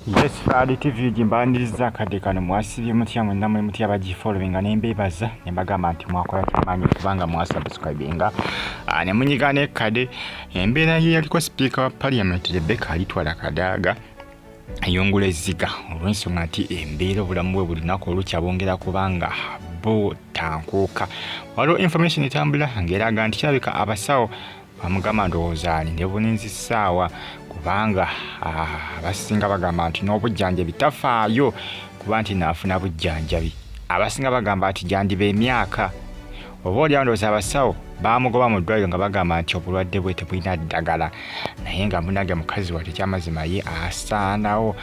Yes, Fadi TV gimbaniriza kadde kano mwasibye mutya mwenna mwe mutya bagifollowinga ne mbeebaza ne mbagamba nti mwakola kyamaanyi okubanga mwasubscribinga ah, ne munyiga ne kade embeera ye yaliko sipiika wa parliament Rebecca alitwala kadaaga ayungula ezziga olw'ensonga nti embeera obulamu bwe bulinaku olukya bongera kubanga butankuuka waliwo information etambula ng'eraga nti kirabika abasawo bamugamba ndowooza alinde bulinzi ssaawa kubanga ah, abasinga bagamba nti n'obujjanjabi tafaayo kuba nti naafuna bujjanjabi abasinga bagamba nti gyandiba emyaka oba olyawo ndowooza abasawo baamugoba mu ddwaliro nga bagamba nti obulwadde bwe tebulina ddagala naye nga munange mukazi wate kyamazima ye asaanawo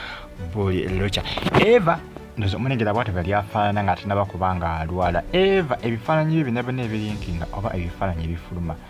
buli lukya eva ndoza omunengera bwati bwe lyafaanana nga atinaba kuba nga alwala eva ebifaananyi byo byona byona ebirinkinga oba ebifaananyi ebifuluma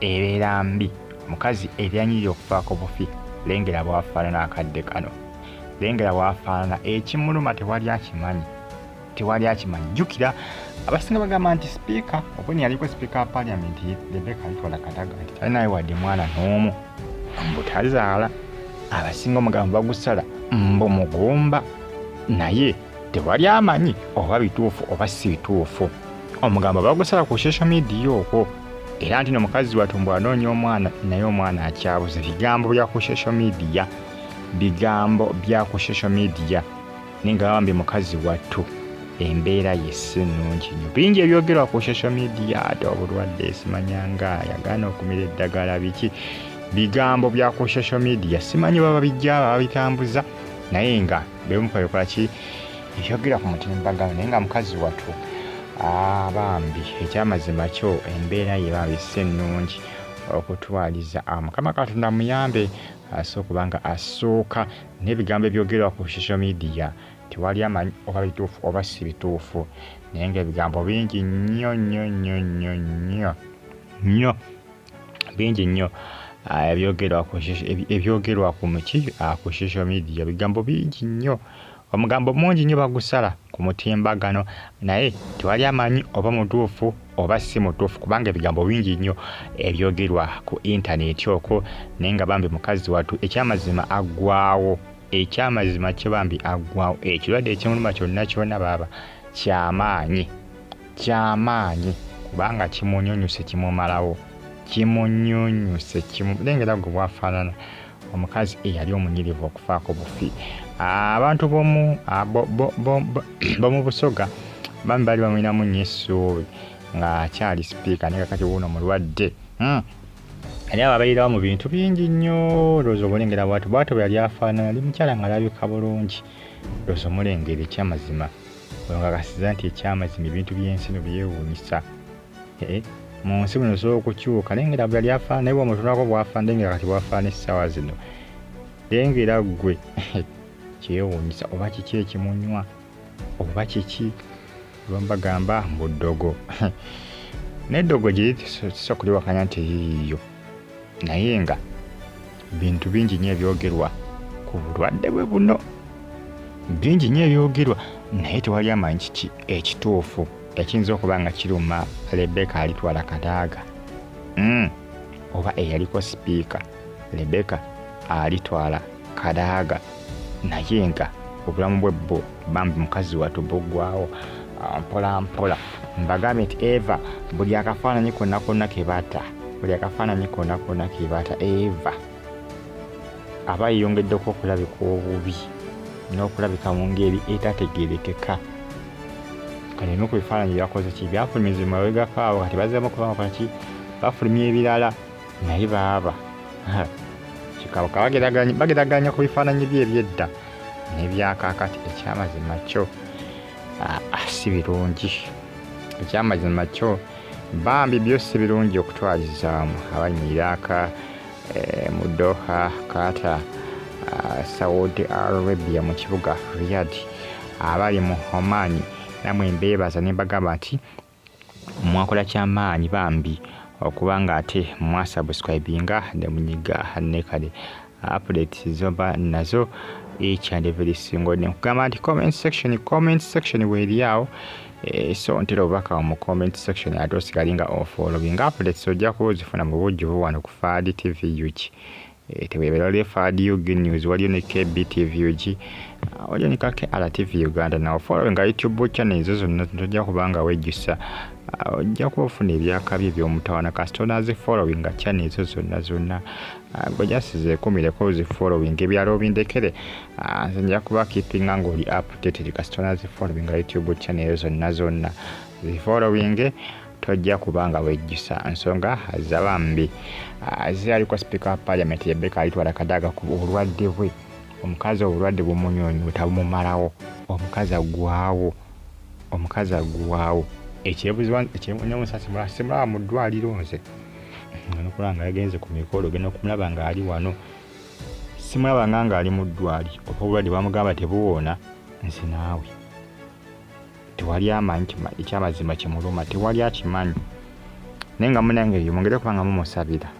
ebeera mbi mukazi ebyanyirira okufaako bufi lengera bwafaanana akadde kano lengera bwafaanana ekimuluma tewali akimanyi tewali akimanyi jjukira abasinga bagamba nti sipiika obwene yaliko sipiika wa paliamenti rebeka litwala kadaga nti talinayo wadde mwana n'omu mbutazaala abasinga omugambo bagusala mbu mugumba naye tewali amanyi oba bituufu oba si bituufu omugambo bagusala ku social media okwo era nti no mukazi watu mbu anoonya omwana naye omwana akyabuze bigambo bya ku social media bigambo bya ku social media naye nga bambi mukazi wattu embeera ye si nnungi nyo bingi ebyogerwa ku social media ate obulwadde esimanyanga yagaana okumira eddagala biki bigambo bya ku social media simanyi baba bijja babitambuza naye nga bemukolekolaki ekyogera ku mutimbagano naye nga mukazi watu ah, bambi ekyamazima kyo embeera ye bambi si ennungi okutwaliza ah, mukama katonda muyambe asobola okuba nga asooka n'ebigambo ebyogerwa ku social media tewali amanyi oba bituufu oba si bituufu naye ngaebigambo bingi nnyo nnyo nnyo nnyo nnyo nnyo bingi nnyo ah, ebyogerwa ku muki ah, ku social media bigambo bingi nnyo omugambo mungi nnyo bagusala ku mutimbagano naye tewali amanyi oba mutuufu oba si mutuufu kubanga ebigambo bingi nnyo ebyogerwa ku intaneti okwo naye nga bambi mukazi wattu ekyamazima aggwawo ekyamazima kye bambi aggwawo ekirwadde ekimuluma kyonna kyona baaba kyamaanyi kyamaanyi kubanga kimunyunyuse kimumalawo kimunyunyuse lengera gwe bwafaanana omukazi eyali omunyirivu okufaako bufi abantu bomu busoga bami baali bamulinamu nyo essuubi nga akyali sipiika naye kakati wuuno mulwadde hmm. naye ababeererawo mu bintu bingi nnyo looza omulengera bwati bwato bwe yali afaanana yali mukyala nga alabika bulungi looza omulengera ekyamazima Ono kakasiza nti ekyamazima ebintu by'ensi no byewuunyisa. Eh, mu nsi muno osobola okukyuka naye ngera bweyali afaana naye bwomutunako bwafaana naye ngera kati bwafaana essaawa zino naye ngera ggwe kyewuunyisa oba kiki ekimunywa oba kiki lwembagamba mbu ddogo neddogo gye tusobola kuliwakanya nti yiiyo naye nga bintu bingi nyo ebyogerwa ku bulwadde bwe buno bingi nyo ebyogerwa naye tewali amanyi kiki ekituufu ekiyinza okuba nga kiruma lebeka alitwala kadaaga mm. oba eyaliko sipiika lebeka alitwala kadaaga naye nga obulamu bwe bbo bambi mukazi watu bugwawo ah, mpola mpola mbagambye nti eva buli akafaananyi konna konna kebata buli akafaananyi konna konna kebata eva aba yeyongeddeko okulabika obubi n'okulabika mu ngeri etategerekeka kati ebimu ku bifaananyi byakoze ki byafulumizibwa mabegakaawo kati bazemu okubakolaki bafulumya ebirala naye baaba kikabuka bageraganya ku bifaananyi bye ebyedda nebyakakati ekyamazima kyo ah, ah, si birungi ekyamazima kyo bambi byo si birungi okutwalizaamu abanyiiraaka eh, mu doha kata ah, saudi arabia mu kibuga riyadi abali mu homani namwe mbeebaza ne mbagamba nti mwakola kyamaanyi bambi okuba nga ate mwasubscribinga ne munyiga ne kale updates zoba nazo each and every single day nkugamba nti comment section comment section weeri awo eh, so ntera obubaka mu comment section ate osigale nga ofoolowinga updates ojja kuba ozifuna mu bujjuvu wano ku faadi tv uki Eh, tewebera waliyo fadi ug news waliyo ne kbtvug ah, waliyo ne kake rtv uganda nawe following nga youtube channel ezo zonna tojja kuba nga wejjusa ah, ojja kuba ofuna ebyakabi ebyomutawana kasita onazi following nga channel ezo zonna zonna ah, gwe just zekumireko zi following ebyalo obindekere nze nja kuba keepinga ngaoli updated kasita onazi following nga youtube channel ezo zonna zonna zi following tojja kuba nga wejjusa nsonga za bambi ah, zirabika sipiika wa paliamenti yebeka alitwala kadaga ku obulwadde bwe omukazi obulwadde bumunyonyo tabumumalawo omukazi agwawo omukazi agwawo ekyebuzibanemusasimulaba mu ddwaliro nze nokula nga yagenze ku mikolo genda okumulaba ngaali wano simulaba nga ngaali mu ddwali oba obulwadde bamugamba tebuwoona nze naawe tewali amanyi ekyamazima kimuluma tewali akimanyi naye nga munange yomwongere kubanga mumusabira